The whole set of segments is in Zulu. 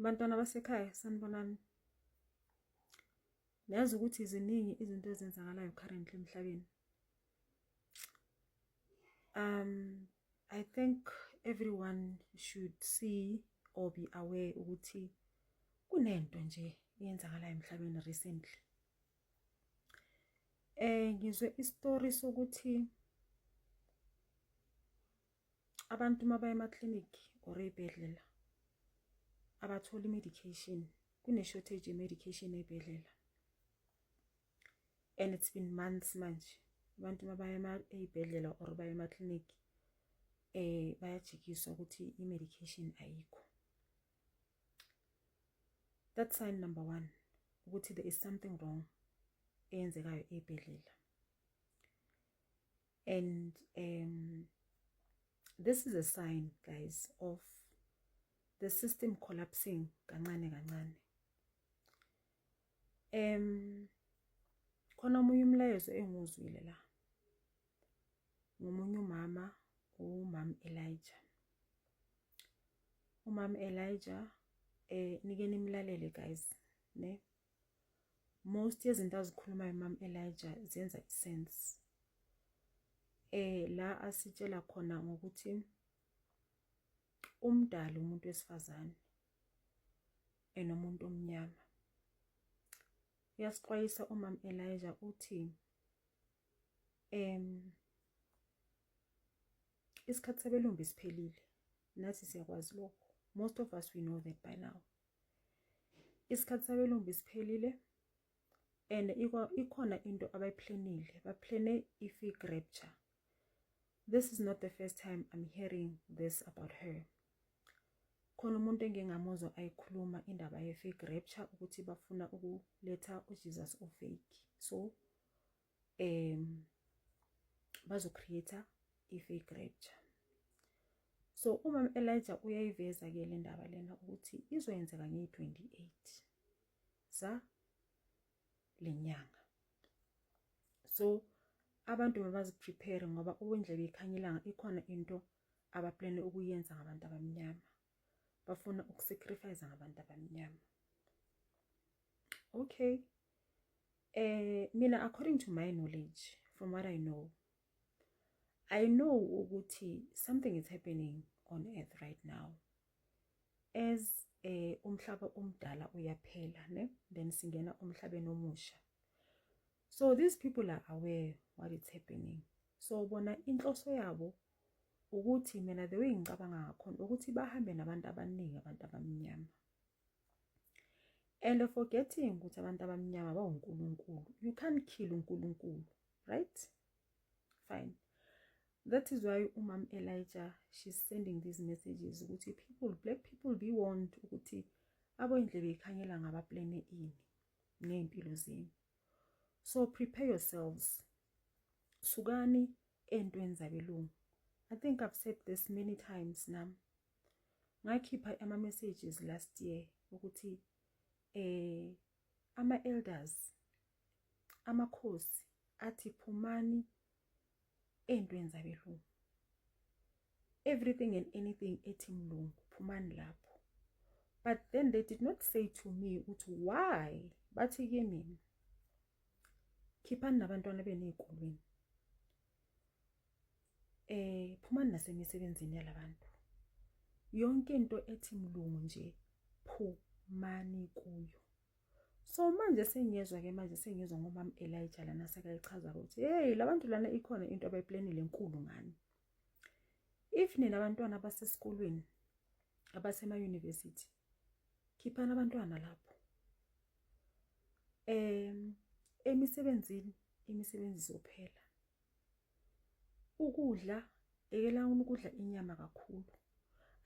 Bantwana basekhaya sanibonani. Niyazi ukuthi ziningi izinto ezenzakalayo currently emhlabeni. Um I think everyone should see or be aware ukuthi kunento nje eyenzakalayo emhlabeni recently. Eh ngizwe istory sokuthi abantu uma baya ema-clinic or ey'bhedlela abatholi i-medication kune-shortage ye-medication ey'bhedlela and it's been months manje abantu uma baya ey'bhedlela or baya ema-clinic um bayajikiswa ukuthi i-medication ayikho that sign number one ukuthi there is something wrong eyenzekayo ey'bhedlela and um this is a sign guys of the system collapsing kancane kancane um khona omunye umlayezo engiwuzwile la ngomunye umama umama Elijah umama Elijah eh nike nimlalele guys ne most yezinto azikhulumayo mam Elijah zenza isense eh la asitshela khona ngokuthi umdala umuntu wesifazane enomuntu omnyama uyasixwayisa umam Elijah uthi em isikhathi sebelumbi siphelile nathi siyakwazi lokho most of us we know that by now isikhathi sabelumbi siphelile and ikhona into abayiplanile baplane i-fig rapture this is not the first time i'm hearing this about her khona umuntu engingamuzwa ayikhuluma indaba ye-fig rapture ukuthi bafuna ukuletha ujesus ofake so um bazo-create-a i-fake rapture so umam elijah uyayiveza-ke le ndaba lena ukuthi izoyenzeka ngeyi-28 sa le nyanga so abantu mabaziprepare ngoba uwendlebe ikhanya ilanga ikhona into abaplane ukuyenza ngabantu abamnyama bafuna ukusacrifice ngabantu abamnyama okay eh mina according to my knowledge from what i know i know ukuthi something is happening on earth right now as eh umhlaba omdala uyaphela ne then singena umhlabeni omusha so these people are aware what is happening so bona inhloso yabo ukuthi mina the way ngicabanga ngakhona ukuthi bahambe nabantu abaningi abantu abamnyama and forgetting ukuthi abantu abamnyama bawunkulunkulu you can't kill unkulunkulu right fine that is why umam elijah she's sending these messages ukuthi people black people be warned ukuthi aboyindlebe ikhanyela ngabaplane ini ngey'mpilo zenu so prepare yourselves sukani entweni zabelungu i think i've said this many times nam ngakhipha ama messages last year ukuthi eh ama elders amakhosi athi phumani ey'ntweni zabelungu everything and anything ethi mlungu phumani lapho but then they did not say to me ukuthi why bathi kimi khiphani nabantwana benu ey'kolweni eh phumani nasemisebenzini yalabantu yonke into ethi mlungu nje phumani kuyo so manje sengiyezwa ke manje sengiyezwa ngomam Elijah lana sekayichaza ukuthi hey labantu lana ikhona into abayiplanile enkulu ngani if nina abantwana abasesikolweni abasema university khiphana abantwana lapho em emisebenzini imisebenzi izophela ukudla ekela ukudla inyama kakhulu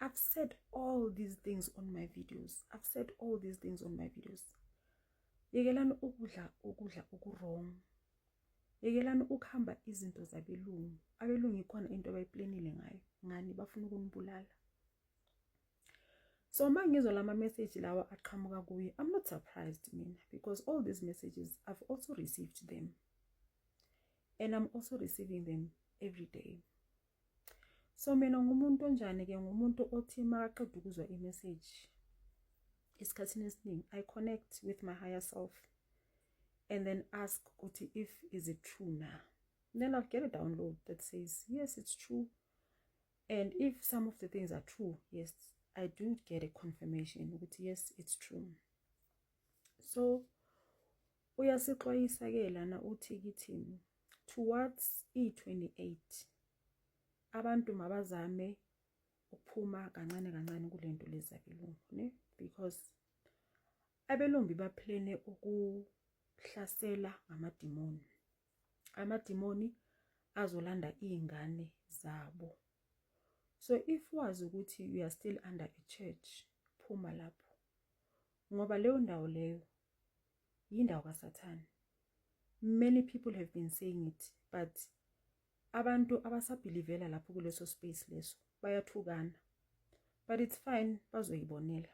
I've said all these things on my videos I've said all these things on my videos yekelani ukudla ukudla okuwrong yekelani ukuhamba izinto zabelungu abelungu ikhona into abayiplanile ngayo ngani bafuna ukunibulala so uma ngizwa lama message lawa aqhamuka kuye i'm not surprised mina because all these messages i've also received them and I'm also receiving them every day so mina ngumuntu onjani ke ngumuntu othi makaqeda ukuzwa i-message esikhathini esiningi i connect with my higher self and then ask ukuthi if is it true na then i'll get a download that says yes it's true and if some of the things are true yes i do get a confirmation ukuthi yes it's true so Uyasixwayisa ke lana uthi kithi towards i28 abantu mabazame ukuphuma kancane kancane kulento leza belungu ne because abelumbi baplane ukuhlasela ngamadimoni amadimoni azolanda izingane zabo so if wazi ukuthi you are still under a church phuma lapho ngoba leyo ndawo leyo yindawo kaSathane many people have been saying it but abantu abasabhilivela lapho kuleso space leso bayathukana but it's fine bazoyibonela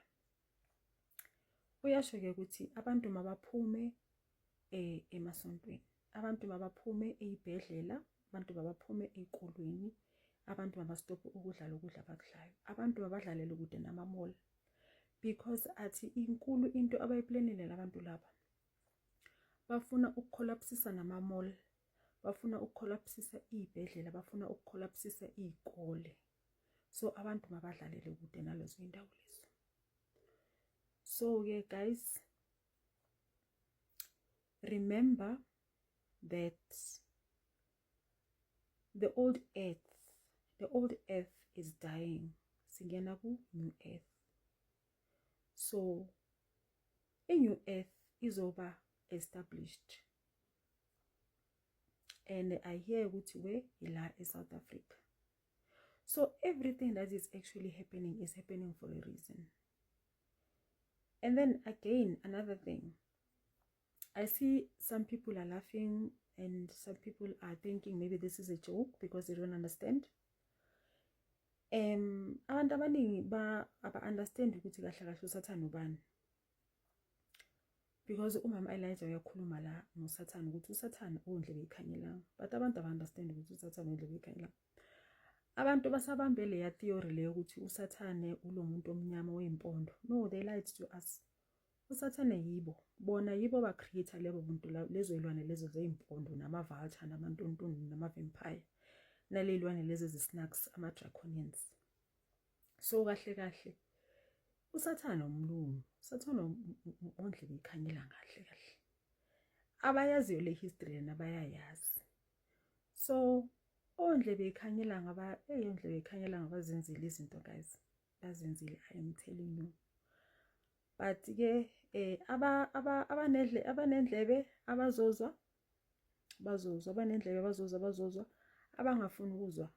uyasho ke ukuthi abantu mabaphume eh emasontweni abantu mabaphume ezibhedlela abantu mabaphume ezikolweni abantu mabastophe ukudla lokudla abakudlayo abantu mabadlalele kude namamall because athi inkulu into abayiplanele labantu laba bafuna ukukholapsisa namamall bafuna ukukholapsisa izibhedlela bafuna ukukholapsisa izikole so abantu mabadlalele kude nalezo indawo lezo so ke guys remember that the old earth the old earth is dying singena ku new earth so i new earth izoba established and i hear ukuthi we ila e-south africa so everything that is actually happening is happening for a reason And then again, another thing. I see some people are laughing and some people are thinking maybe this is a joke because they don't understand. Um abantu abaningi ba aba understand ukuthi kahle kahle usathana ubani. Because umama Elijah uyakhuluma la ngosathana ukuthi usathana undle beyikhanyela. But abantu aba understand ukuthi usathana undle beyikhanyela. abantu basabambe leya theory leyo ukuthi usathane ulo muntu omnyama oyimpondo no they lied to us usathane yibo bona yibo ba creator lebo buntu lezo ilwane lezo zeimpondo nama vulture nama ntontoni nama vampire nalelwane lezi zisnacks ama draconians so kahle kahle usathane umlungu usathane ondle bekhanyela kahle kahle abayaziyo le history yena bayayazi so ondlebe ikhanyela ngaba hey ondlebe ikhanyela ngabazenzile izinto guys bazenzile i am telling you but ke eh aba aba abanedle abanendlebe abazozwa bazozwa abanendlebe bazozwa bazozwa abangafuni ukuzwa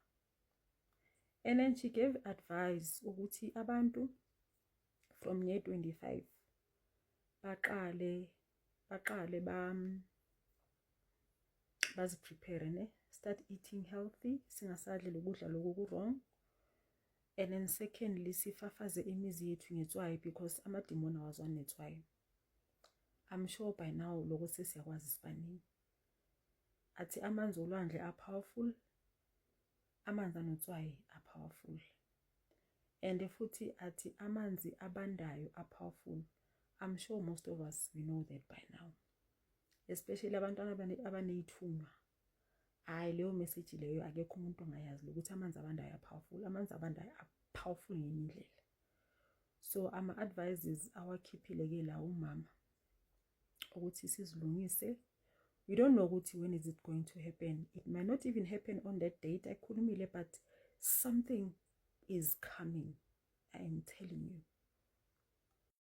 and then she gave advice ukuthi abantu from year 25 baqale baqale ba baziprepare ne start eating healthy singasadli lokudla lokhu ku-wrong and then secondly sifafaze imizi yethu ngetswayi because amadimoni awazwani netswayi i'm sure by now loko sesiyakwazi sibaningi athi amanzi olwandle a-powerful amanzi anotswayi a-powerful and futhi athi amanzi abandayo a-powerful i'm sure most of us we know that by now especially abantwana abaneyithunywa hayi leyo message leyo akekho umuntu ongayazi ukuthi amanzi abandayo ayapowerful amanzi abandayo apowerful ngenye indlela so ama advices awakhiphile ke la umama ukuthi sizilungise we don't know ukuthi when is it going to happen it might not even happen on that date ayikhulumile but something is coming i am telling you